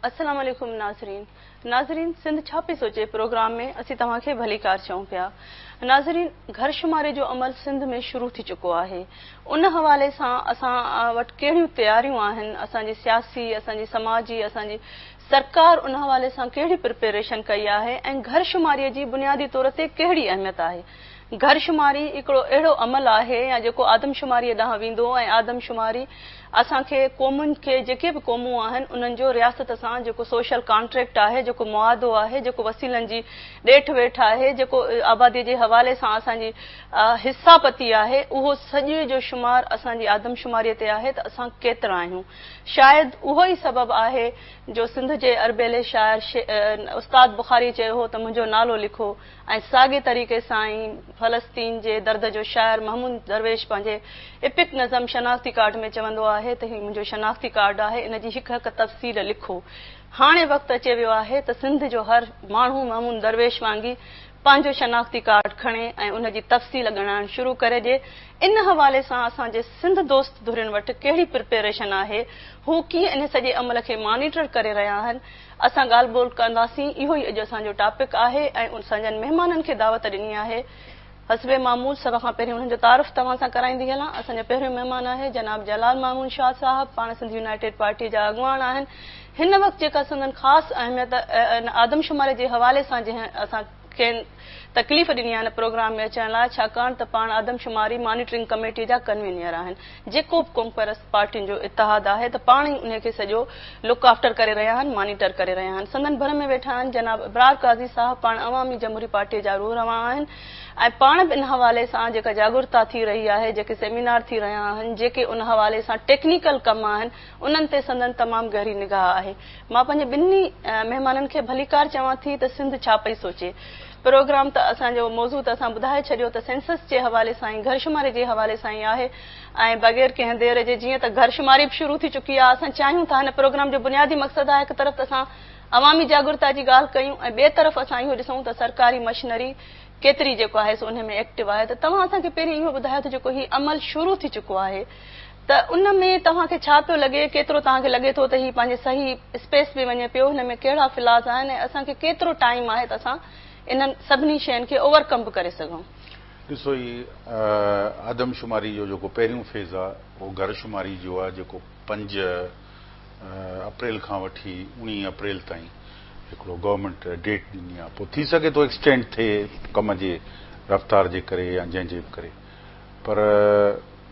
السلام عليڪم ناظرين ناظرين سنڌ ڇا پئي سوچي پروگرام ۾ اسين توهان کي ڀليڪار چئون پيا ناظرين گهر شماري جو عمل سنڌ ۾ شروع ٿي چڪو آهي ان حوالي سان اسان وٽ ڪهڙيون تياريون آهن اسان جي سياسي اسان جي سماجي اسان جي سرڪار ان حوالي سان ڪهڙي پرپيريشن ڪئي آهي ۽ گهر شماري جي بنيادي طور تي ڪهڙي اهميت آهي؟ گهر شماري هڪڙو اهڙو عمل آهي يا جيڪو آدم شماري ڏانهن ويندو ۽ آدم شماري اسان کي قومن کي جيڪي به قومون آهن انهن جو رياست سان جيڪو سوشل ڪانٽريڪٽ آهي جيڪو معاهدو آهي جيڪو وسيلن جي ڏيٺ ويٺ آهي جيڪو آبادي جي حوالي سان اسان جي حصا پتي آهي اهو سڄي جو شمار اسان جي آدم شماري تي آهي ته اسان ڪيترا آهيون شايد اهو ئي سبب آهي جو سنڌ جي اربيلي شاعر استاد بخاري چيو هو ته منهنجو نالو لکو ۽ ساڳي طريقي سان ئي فلسطين جي درد جو شاعر محمود درويش پنهنجي ايپڪ نظم شناختي ڪارڊ ۾ چوندو آهي ته هي منهنجو شناختي ڪارڊ آهي ان جي هڪ هڪ تفصيل لکو هاڻي وقت اچي ويو آهي ته سنڌ جو هر ماڻهو محمود درويش وانگي پنهنجو شناختي ڪارڊ کڻي ۽ ان جي تفصيل ڳڻائڻ شروع ڪري ڏي ان حوالي سان اسان جي سنڌ دوست ڌرين وٽ ڪهڙي پرپيئريشن آهي، هو ڪيئن انهي سڄي عمل کي مانيٽر ڪري رهيا آهن، اسان ڳالهه ٻولهه ڪنداسين، اهو ئي اڄ اسان جو ٽاپڪ آهي ۽ اسان جن مهمانن کي دعوت ڏني آهي، حسب معمول سڀ کان پهرين انهن جو تعارف توهان سان ڪرائيندي هلان، اسان جو پهريون مهمان آهي جناب جلال مامون شاهه صاحب، پاڻ سنڌ يونائيٽيڊ پارٽيء جا اڳواڻ آهن، هن وقت جيڪا سندن خاص اهميت آدمشماري جي حوالي سان جنهن اسان کين تڪليف ڏني آهي ان پروگرام ۾ اچڻ لاء ڇاڪاڻ ته پاڻ آدمشماري مانيٽرنگ ڪميٽي جا ڪنوينئر آهن جيڪو به قومپرست پارٽين جو اتحاد آهي ته پاڻ ئي انهي کي سڄو لڪ آفٽر ڪري رهيا آهن مانيٽر ڪري رهيا آهن سندن ڀر ۾ ويٺا آهن جناب ابرار قاضي صاحب پاڻ عوامي جمهوري پارٽي جا روح روان آهن ۽ پاڻ به ان حوالي سان جيڪا جاڳرتا ٿي رهي آهي جيڪي سيمينار ٿي رهيا آهن جيڪي ان حوالي سان ٽيڪنيڪل ڪم آهن انهن تي سندن تمام گهري نگاهه آهي. مان پنهنجي ٻنهي مهمانن کي ڀليڪار چوان ٿي ته سنڌ ڇا پئي سوچي. پروگرام ته اسان جو موضوع ته اسان ٻڌائي ڇڏيو ته سينسس جي حوالي سان ۽ گهرشماري جي حوالي سان ئي آهي ۽ بغير ڪنهن دير جي جيئن ته گهرشماري به شروع ٿي چڪي آهي اسان چاهيون ٿا هن پروگرام جو بنيادي مقصد آهي هڪ طرف ته اسان عوامي جاڳرتا جي ڳالهه ڪيون ۽ ٻئي طرف اسان اهو ڏسون ته سرڪاري مشنري ڪيتري جيڪو آهي سو انهي ۾ ايڪٽو آهي ته توهان اسان کي پهرين اهو ٻڌايو ته جيڪو هي عمل شروع ٿي چڪو آهي ته ان ۾ توهان کي ڇا پيو لڳي، ڪيترو توهان کي لڳي ٿو ته هي پنهنجي صحيح اسپيس ۾ وڃي پيو، هن ۾ ڪهڙا فلاز آهن ۽ اسان کي ڪيترو ٽائيم آهي ته اسان انهن سڀني شين کي اوور ڪم به ڪري سگهون. ڏسو هي آدم شماري جو جيڪو پهريون فيز آ اهو گهر شماري جو آ جيڪو پنج اپريل کان وٺي اوڻيهه اپريل تائين هڪڙو گورنمينٽ ڊيٽ ڏني آ پوء ٿي سگهي ٿو ايڪسٽينڊ ٿئي ڪم جي رفتار جي ڪري يا جنهن جي به ڪري پر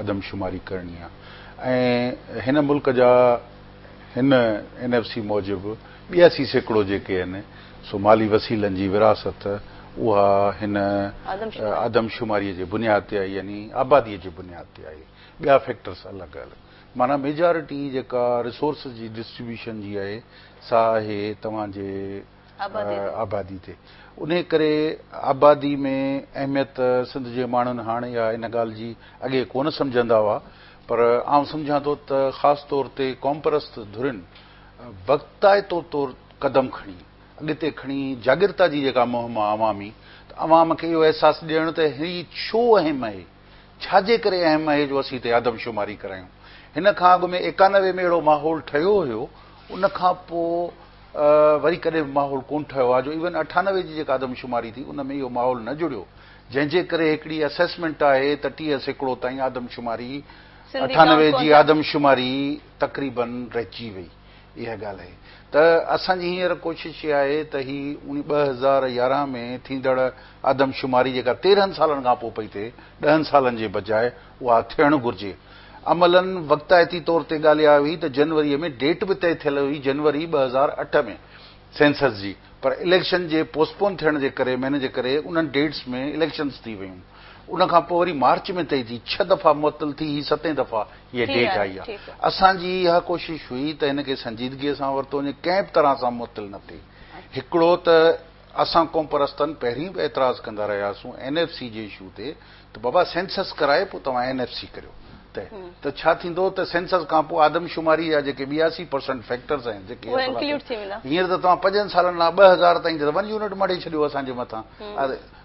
آدم شماري ڪرڻي آهي ۽ هن ملڪ جا هن اين ايف سي موجب ٻياسي سيڪڙو جيڪي آهن سو مالي وسيلن جي ورهاست اها هن آدم شماري جي بنياد تي آهي يعني آبادي جي بنياد تي آهي ٻيا فيڪٽرس الڳ الڳ معنيٰ ميجارٽي جيڪا ريسورسز جي ڊسٽريبيوشن جي آهي سا آهي توهان جي آبادي تي. انهيء ڪري آبادي ۾ اهميت سنڌ جي ماڻهن هاڻ اها ان ڳالهه جي اڳي ڪونه سمجهندا هئا پر آئون سمجهان ٿو ته خاص طور تي قومپرست ڌرين وقتائتو طور قدم کڻي اڳتي کڻي جاڳرتا جي جيڪا مهم آهي عوامي ته عوام کي اهو احساس ڏيڻ ته هي ڇو اهم اهي. ڇا جي ڪري اهم اهي جو اسين هتي آدم شماري ڪرايون. هن کان اڳ ۾ ايڪانوي ۾ اهڙو ماحول ٺهيو هيو، ان کان پوء وري ڪڏهن به ماحول ڪونه ٺهيو آهي جو ايون اٺانوي جي جيڪا آدم شماري ٿي ان ۾ اهو ماحول نه جڙيو جنهن جي ڪري هڪڙي اسيسمينٽ آهي ته ٽيهه سيڪڙو تائين آدم شماري اٺانوي جي آدم شماري تقريبن رهجي وئي. اها ڳالهه آهي ته اسان جي هينئر ڪوشش اها آهي ته هي اڻي ٻه هزار يارهن ۾ ٿيندڙ آدم شماري جيڪا تيرهن سالن کان پوء پئي ٿئي، ڏهن سالن جي بجاء اها ٿيڻ گهرجي. عملاً وقتائتي طور تي ڳالهه اها هئي ته جنوريء ۾ ڊيٽ به طئي ٿيل هئي جنوري ٻه هزار اٺ ۾. سينسس جي پر اليڪشن جي پوسٽ پون ٿيڻ جي ڪري مهيني جي ڪري انهن ڊيٽس ۾ اليڪشنز ٿي ويون ان کان پوء وري مارچ ۾ طئي ٿي ڇهه دفعا معطل ٿي هي ستين دفعا هيء ڊيٽ آئي آهي اسان جي اها ڪوشش هئي ته هن کي سنجيدگيء سان ورتو وڃي ڪنهن به طرح سان معطل نه ٿئي هڪڙو ته اسان قومپرستن پهرين به اعتراض ڪندا رهياسون اين ايف سي جي اشو تي ته بابا سينسس ڪرائي پوء توهان اين ايف سي ڪريو ته ته ڇا ٿيندو ته سينسس کان پوء آدمشماري جا جيڪي ٻياسي پرسنٽ فيڪٽرز آهن جيڪي اهي انڪلوڊ ٿي ويندا هينئر ته توهان پنجن سالن لاء ٻه هزار تائين ته ون يونٽ مڙهي ڇڏيو اسان جي مٿان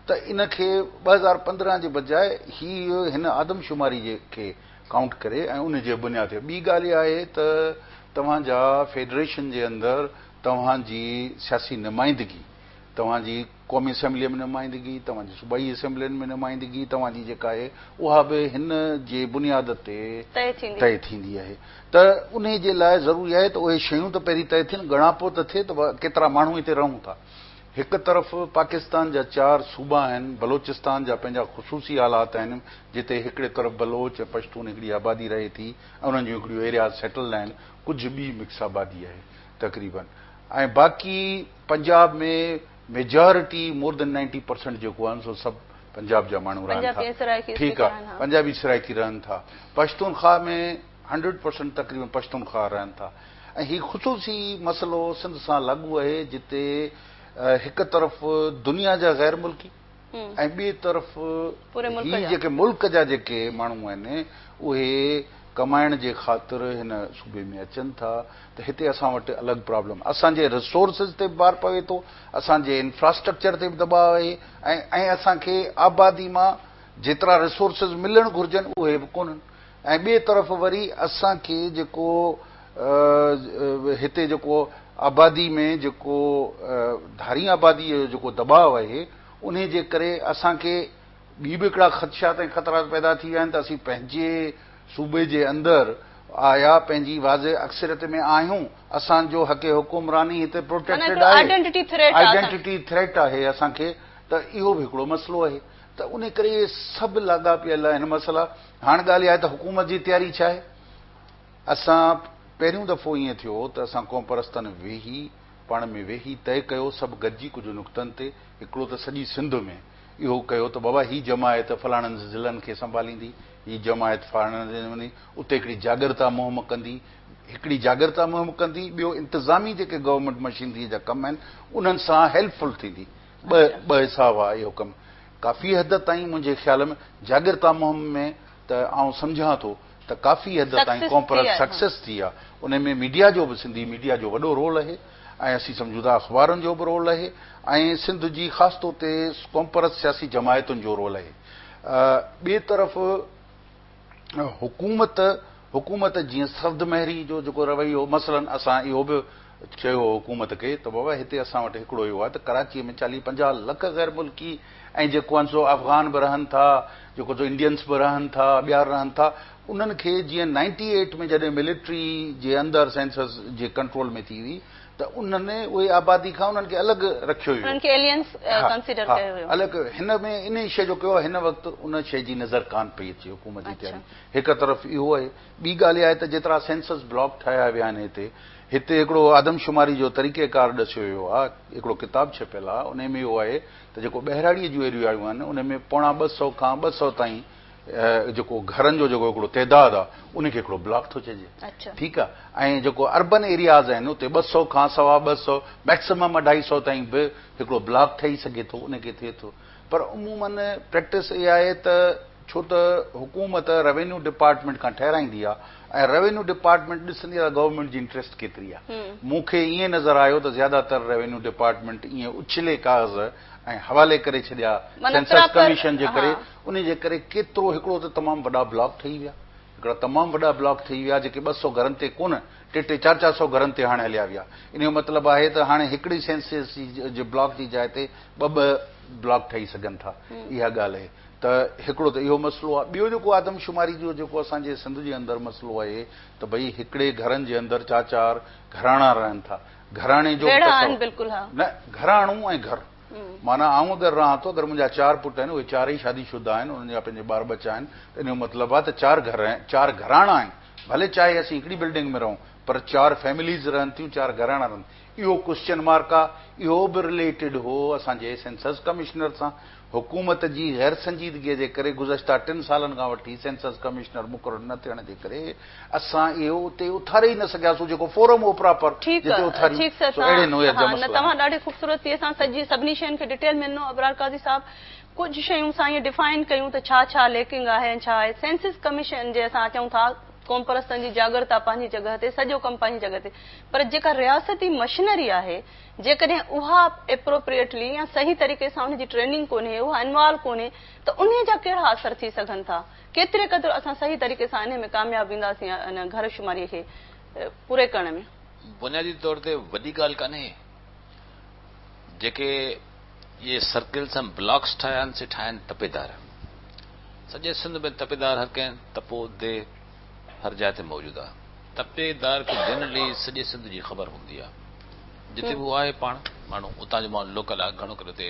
ته ان کي ٻه هزار پندرهن جي بجاء هي هن آدمشماري جي کي ڪائونٽ ڪري ۽ ان جي بنياد تي ٻي ڳالهه اها آهي ته توهان جا فيڊريشن جي اندر توهان جي سياسي نمائندگي توهان جي قومي اسيمبليء ۾ نمائندگي، توهان جي صوبائي اسيمبلين ۾ نمائندگي توهان جي جيڪا آهي، اها به هن جي بنياد تي طئي ٿيندي آهي ته انهي جي لاء ضروري آهي ته اهي شيون ته پهرين طئي ٿين، ڳڻاپو ته ٿئي ته ڪيترا ماڻهو هتي رهون ٿا. هڪ طرف پاڪستان جا چار صوبا آهن، بلوچستان جا پنهنجا خصوصي حالات آهن، جتي هڪڙي طرف بلوچ ۽ پشتون هڪڙي آبادي رهي ٿي ۽ انهن جون هڪڙيون ايرياز سيٽلڊ آهن، ڪجهه ٻي مڪس آبادي آهي تقريبن ۽ باقي Punjab ۾ majority more than ninety percent جيڪو آهن سو سڀ پنجاب جا ماڻهو رهن ٿا ٺيڪ آ پنجابي سرائيڪي رهن ٿا پشتونخواهه ۾ هنڊريڊ پرسنٽ تقريبن پشتونخواهه رهن ٿا ۽ هي خصوصي مسئلو سنڌ سان لاڳو اهي جتي هڪ طرف دنيا جا غير ملڪي ۽ ٻئي طرف هي جيڪي ملڪ جا جيڪي ماڻهو آهن اهي ڪمائڻ جي خاطر هن صوبي ۾ اچن ٿا ته هتي اسان وٽ الڳ پرابلم اسان جي رسورسز تي به بار پوي ٿو اسان جي انفراسٽرڪچر تي به دٻاء آهي ۽ ۽ اسان کي آبادي مان جيترا رسورسز ملڻ گهرجن اهي به ڪونهن ۽ ٻئي طرف وري اسان کي جيڪو هتي جيڪو آبادي ۾ جيڪو ڌارين آباديء جو جيڪو دٻاء آهي، انهي جي ڪري اسان کي ٻي به هڪڙا خدشات ۽ خطرات پيدا ٿي ويا آهن ته اسين پنهنجي صوبي جي اندر آيا پنهنجي واضح اڪثريت ۾ آهيون، اسان جو حق حڪمراني هتي پروٽيڪٽيڊ آهي، آئيڊينٽيٽي ٿريٽ آهي اسان کي ته اهو به هڪڙو مسئلو آهي ته انهي ڪري اهي سڀ لاڳاپيل آهن مسئلا هاڻ ڳالهه اها آهي ته حڪومت جي تياري ڇا آهي؟ اسان پهريون دفعو ائين ٿيو هو ته اسان قومپرستن ويهي پاڻ ۾ ويهي طئي ڪيو سڀ گڏجي ڪجهه نقطن تي هڪڙو ته سڄي سنڌ ۾ اهو ڪيو ته بابا هي جماعت فلاڻن ضلعن کي سنڀاليندي هي جماعت فلاڻن ضلعن ۾ ويندي اتي هڪڙي جاڳرتا مهم ڪندي هڪڙي جاڳرتا مهم ڪندي ٻيو انتظامي جيڪي گورنمينٽ مشينري جا ڪم آهن انهن سان هيلپ فل ٿيندي ٻه ٻه حصا هئا اهو ڪم ڪافي حد تائين منهنجي خيال ۾ جاڳرتا مهم ۾ ته آئون سمجهان ٿو ته ڪافي حد تائين ڪونپرس سڪسيس ٿي آ ان ۾ ميڊيا جو به سنڌي ميڊيا جو وڏو رول اهي ۽ اسين سمجهون ٿا اخبارن جو به رول اهي ۽ سنڌ جي خاص طور تي ڪونپرس سياسي جماعتن جو رول اهي ٻي طرف حڪومت حڪومت جيئن سرد مهري جو جيڪو رويو هو مثلاً اسان اهو به چيو هو حڪومت کي ته بابا هتي اسان وٽ هڪڙو اهو آهي ته ڪراچيء ۾ چاليهه پنجاهه لک غير ملڪي ۽ جيڪو آهن سو افغان به رهن ٿا جيڪو سو انڊينس به رهن ٿا ٻيا رهن ٿا انهن کي جيئن نائنٽي ايٽ ۾ جڏهن ملٽري جي اندر سينسس جي ڪنٽرول ۾ ٿي هئي ته انهن اهي آبادي کان انهن کي الڳ رکيو ويو. انهن کي Aliens Consider ڪيو ويو. الڳ ڪيو ويو. هن ۾ انهي شيء جو ڪيو آهي هن وقت ان شيء جي نظر ڪانه پئي اچي حڪومت جي تياري هڪ طرف اهو آهي ٻي ڳالهه اها آهي ته جيترا سينسس بلاڪ ٺاهيا ويا آهن هتي هتي هڪڙو آدمشماري جو طريقه ڪار ڏسيو ويو آهي هڪڙو ڪتاب ڇپيل آهي انهي ۾ اهو آهي ته جيڪو ٻهراڙي جون ايريائون آهن انهي ۾ پوڻا ٻه سؤ کان ٻه سؤ تائين جيڪو گهرن جو جيڪو هڪڙو تعداد آ ان کي هڪڙو بلاڪ ٿو چئجي ٺيڪ آ ۽ جيڪو اربن ايرياز آهن اتي ٻه سئو کان سوا ٻه سئو ميڪسمم اڍائي سئو تائين به هڪڙو بلاڪ ٺهي سگهي ٿو ان کي ٿئي ٿو پر عمومن پريڪٽس اها آهي ته ڇو ته حڪومت روينيو ڊپارٽمينٽ کان ٺهرائيندي آ ۽ روينيو ڊپارٽمينٽ ڏسندي آ ته گورنمينٽ جي انٽريسٽ ڪيتري آ مون کي ائين نظر آيو ته زياده تر روينيو ڊپارٽمينٽ ائين اڇلي ڪاغذ ۽ حوالي ڪري ڇڏيا سينسس ڪميشن جي ڪري انهيء جي ڪري ڪيترو هڪڙو ته تمام وڏا بلاڪ ٺهي ويا، هڪڙا تمام وڏا بلاڪ ٺهي ويا جيڪي ٻه سؤ گهرن تي ڪونه، ٽي ٽي چار چار سؤ گهرن تي هاڻي هليا ويا. انهيء جو مطلب آهي ته هاڻي هڪڙي سينسز جي جي بلاڪ جي جاء تي ٻه ٻه بلاڪ ٺهي سگهن ٿا. اها ڳالهه اهي ته هڪڙو ته اهو مسئلو آهي. ٻيو جيڪو آدمشماري جو جيڪو اسان جي سنڌ جي اندر مسئلو اهي ته ڀئي هڪڙي گهرن جي اندر چار چار گهراڻا رهن ٿا. گهراڻي جو ٻه سؤ نه گهراڻو ۽ گهر. معنيٰ آئون در رهان ٿو، اگر منهنجا چار پٽ آهن، اهي چارئي شادي شده آهن، انهن جا پنهنجي ٻار ٻچا آهن، ته ان جو مطلب آهي ته چار گهر آهن، چار گهراڻا آهن، ڀلي چاهي اسين هڪڙي بلڊنگ ۾ رهون، پر چار فيمليز رهن ٿيون، چار گهراڻا رهن ٿا. اهو ڪوسچن مارڪ آهي، اهو به رليٽيڊ هو اسان جي سينسز ڪمشنر سان، حڪومت جي غيرسنجيدگيء جي ڪري گذشته ٽن سالن کان وٺي سينسز ڪمشنر مقرر نه ٿيڻ جي ڪري، اسان اهو اتي اٿاري ئي نه سگهياسون جيڪو فورم هو پراپر ٺيڪ جتي اٿاريون ٺيڪ سر سو اهڙي تان نوعيت جا ها نه مسئلا توهان آهن. ڏاڍي خوبصورتيء سان سڄي سڀني شين کي ڊٽيل ۾ ڏنو ابرار قاضي صاحب ڪجهه شيون اسان ائين ڊفائن ڪيون ته ڇا ڇا ليڪنگ آهي ۽ ڇا آهي سينسز ڪميشن جي اسان چئون ٿا قومپرستن جي جاڳرتا پنهنجي جڳهه تي سڄو ڪم پنهنجي جڳهه تي پر جيڪا رياستي مشنري آهي جيڪڏهن اها اپروپريٽلي يا صحيح طريقي سان ان جي ٽريننگ ڪونهي اها انوالو ڪونهي ته انهي جا ڪهڙا اثر ٿي سگهن ٿا ڪيتري قدر اسان صحيح طريقي سان انهي ۾ ڪامياب وينداسين ان گهر شماري کي پوري ڪرڻ ۾. بنيادي طور تي وڏي ڳالهه ڪانهي جيڪي اهي سرڪلز ۽ بلاڪس ٺاهيا آهن سي ٺاهيا آهن تپيدار. سڄي سنڌ ۾ تپيدار هر ڪنهن تپو دي هر جاء تي موجود آهي. تپي دار کي جنرلي سڄي سنڌ جي خبر هوندي آهي جتي به هو آهي پاڻ ماڻهو اتان جو ماڻهو لوڪل آهي گهڻو ڪري اتي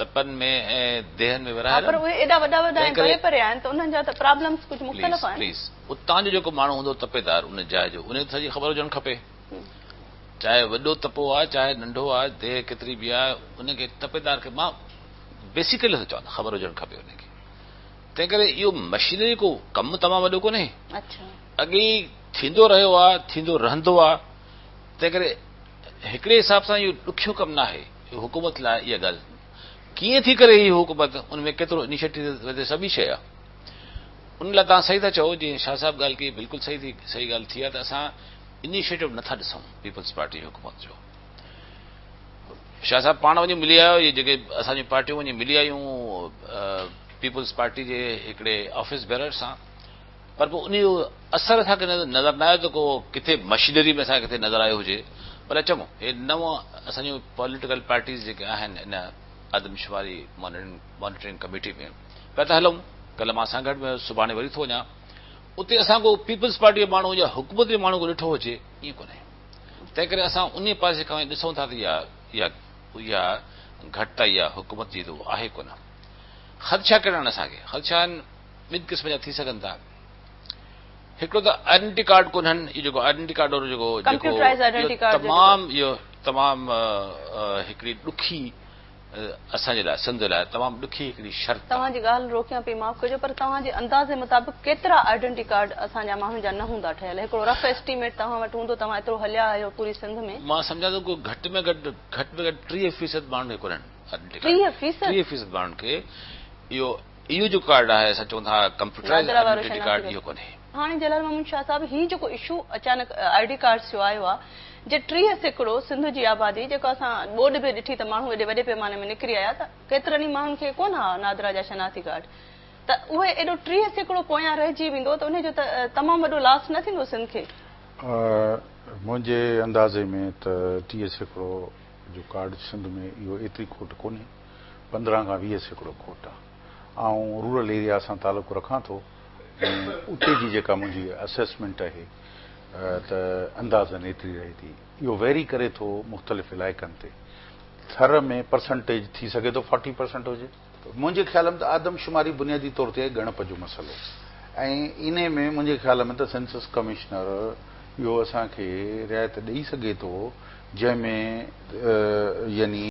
تپن ۾ ۽ ديهن ۾ ورهايل آهن. پر اهي ايڏا وڏا وڏا ۽ پري پري آهن ته انهن جا ته پرابلمز ڪجهه مختلف آهن. پليز پليز اتان جو جيڪو ماڻهو هوندو تپيدار ان جاء جو انهيء کي سڄي خبر هجڻ کپي چاهي وڏو تپو آهي چاهي ننڍو آهي ديهه ڪيتري به آهي ان کي تپيدار کي مان بيسيڪلي نٿو چوان خبر هجڻ کپي انهيء کي تنهن ڪري اهو مشينري ڪو ڪم تمام وڏو ڪونهي اڇا اڳي ئي ٿيندو رهيو آهي ٿيندو رهندو آهي تنهن ڪري هڪڙي حساب سان اهو ڏکيو ڪم ناهي. حڪومت لاء اها ڳالهه ڪيئن ٿي ڪري هي حڪومت ان ۾ ڪيترو انيشيٽيو سڀ ئي شيء آ ان لاء توهان صحيح ٿا چئو جي شاهه صاحب ڳالهه ڪئي بلڪل صحيح ٿي صحيح ڳالهه ٿي آ ته اسان انيشيٽيو نٿا ڏسون پيپلز پارٽي حڪومت جو شاهه صاحب پاڻ وڃي ملي آيو جي جيڪي اسان جي پارٽيون وڃي ملي آيون پيپلز پارٽي جي هڪڙي آفيس بيرر سان پر پوء انهيء جو اثر اسان کي نظر نه آيو ته ڪو ڪٿي مشينري ۾ اسان کي ڪٿي نظر آيو هجي. بلڪ چڱو، هي نون اسان جون پوليٽيڪل پارٽيز جيڪي آهن ان آدمشماري مانيٽرنگ ڪميٽي ۾ پيا ٿا هلون. ڪلهه مان سانگهڙ ۾ هيس، سڀاڻي وري ٿو وڃان. اتي اسان ڪو پيپلز پارٽيء جي ماڻهو يا حڪومت جي ماڻهو ڪو ڏٺو هجي، ائين ڪونهي. تنهنڪري اسان انهيء پاسي کان وڃي ڏسون ٿا ته اها اها گهٽتائي يا حڪومت جي اهو آهي ڪونه. خدشا ڪهڙا آهن اسان کي؟ خدشا آهن. ٻن قسم جا ٿي سگهن ٿا. هڪڙو ته آئيڊنٽي ڪارڊ ڪونهن، اهو جيڪو آئيڊنٽي ڪارڊ وارو جيڪو ڪمپيوٽرائيز آئيڊنٽي ڪارڊ جيڪو تمام اهو تمام هڪڙي ڏکي اسان جي لاء سنڌ لاء تمام ڏکي هڪڙي شرط آهي. توهان جي ڳالهه روڪيان پئي معاف ڪجو پر توهان جي اندازي مطابق ڪيترا آئيڊنٽي ڪارڊ اسان جا ماڻهن جا نه هوندا ٺهيل هڪڙو رف ايسٽيميٽ توهان وٽ هوندو توهان ايترو هليا آهيو پوري سنڌ ۾. مان سمجهان ٿو ڪو گهٽ ۾ گهٽ گهٽ ۾ گهٽ ٽيهه فيصد ماڻهن کي ڪونهن آئيڊنٽي ڪارڊ ٽيهه فيصد ماڻهن کي اهو اهو جو ڪارڊ آهي اسان چئون ٿا ڪمپيوٽرائيز آئيڊينٽي ڪارڊ اهو ڪونهي. هاڻي جلال محمد شاهه صاحب هي جيڪو اشو اچانڪ آئي ڊي ڪارڊس جو آيو آ جي ٽيهه سيڪڙو سنڌ جي آبادي جيڪو اسان ٻوڏ به ڏٺي ته ماڻهو ايڏي وڏي پيماني ۾ نڪري آيا ته ڪيترن ئي ماڻهن کي ڪونه آ نادرا جا شناختي ڪارڊ ته اهي ايڏو ٽيهه سيڪڙو پويان رهجي ويندو ته انهي جو ته تمام وڏو لاس نه ٿيندو سنڌ کي. منهنجي اندازي ۾ ته ٽيهه سيڪڙو جو ڪارڊ سنڌ ۾ اهو ايتري کوٽ ڪونهي. پندرهن کان ويهه سيڪڙو کوٽ آ. آئون رورل ايريا سان تعلق رکان ٿو ۽ اتي جي جيڪا منهنجي اسيسمينٽ اهي ته اندازن ايتري رهي ٿي. اهو ويري ڪري ٿو مختلف علائقن تي. ٿر ۾ پرسنٽيج ٿي سگهي ٿو فورٽي پرسنٽ هجي. منهنجي خيال ۾ ته آدم شماري بنيادي طور تي آهي ڳڻپ جو مسئلو ۽ انهي ۾ منهنجي خيال ۾ ته سينسس ڪمشنر اهو اسان کي رعايت ڏئي سگهي ٿو جنهن ۾ يعني